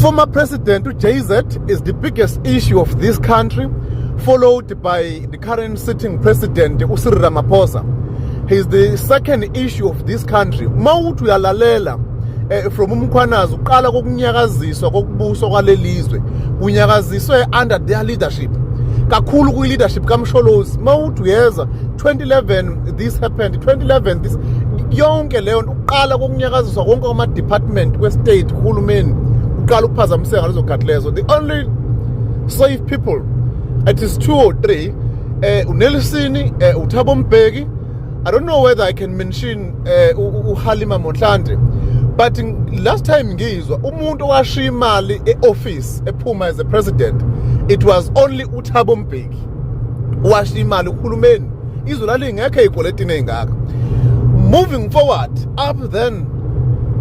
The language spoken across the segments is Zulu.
Former President JZ is the biggest issue of this country, followed by the current sitting president Usiri Ramaphosa. He is the second issue of this country. Mawuthi uyalalela eh, from umkhwanazi uqala kokunyakaziswa kokubuso kwalelizwe kunyakaziswe under their leadership kakhulu kwi leadership kamsholozi mawuthi uyeza 2011 this happened 2011 this yonke leyo Qala kokunyakaziswa konke kwama department kwe state kuhulumeni uqala ukuphazamiseka lezo khathi lezo the only safe people it is 2 or 3 eh uNelisini eh uThabo Mbeki I don't know whether I can mention eh uHalima Monhlande but last time ngizwa umuntu owashiya imali eoffice ephuma as a president it was only uThabo Mbeki washiya imali uhulumeni izwe lalingekho ey'kweletini ey'ngaka moving forward up then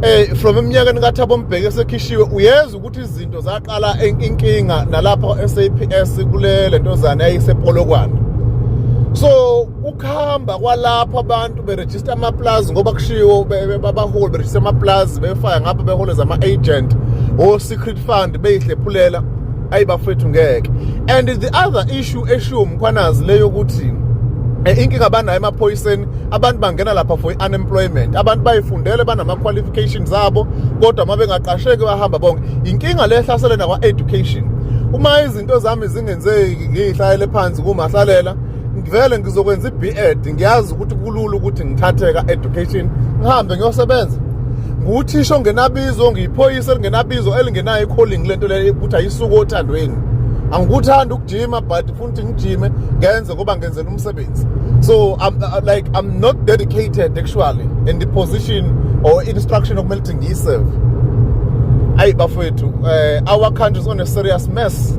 eh from eminyakeni kaThabo Mbheke sekhishiwe uyeza ukuthi izinto zaqala inkinga nalapha SAPS kule lentozana yayisepolokwane so ukuhamba kwalapha abantu beregister ama plaza ngoba kushiwo babaholi beregister ama plaza befaya ngapha beholeza ama agent o secret trust fund beyihlephulela ayi bafethu ngeke and the other issue eshiwo mkhwanazi le yokuthi eh, inkinga abanayo emaphoyiseni abantu bangena lapha for i-unemployment abantu bayifundele banama-qualification zabo kodwa uma bengaqasheki bahamba bonke yinkinga le ehlasele nakwa-education uma izinto zami zingenzeki ngiyihlalele phansi kumahlalela ngivele ngizokwenza i-B.Ed ngiyazi ukuthi kulula ukuthi ngithatheka education ngihambe ngiyosebenza nguthisha ongenabizo ngiyiphoyisa elingenabizo elingenayo i-calling lento leyo ukuthi ayisuke othandweni angikuthanda ukujima but futhi ngijime ngenze ngoba ngenzela umsebenzi so I'm, uh, like i'm not dedicated actually in the position or instruction okumele ukuthi ngiyiserve ayi bafowethu um our country is on a serious mess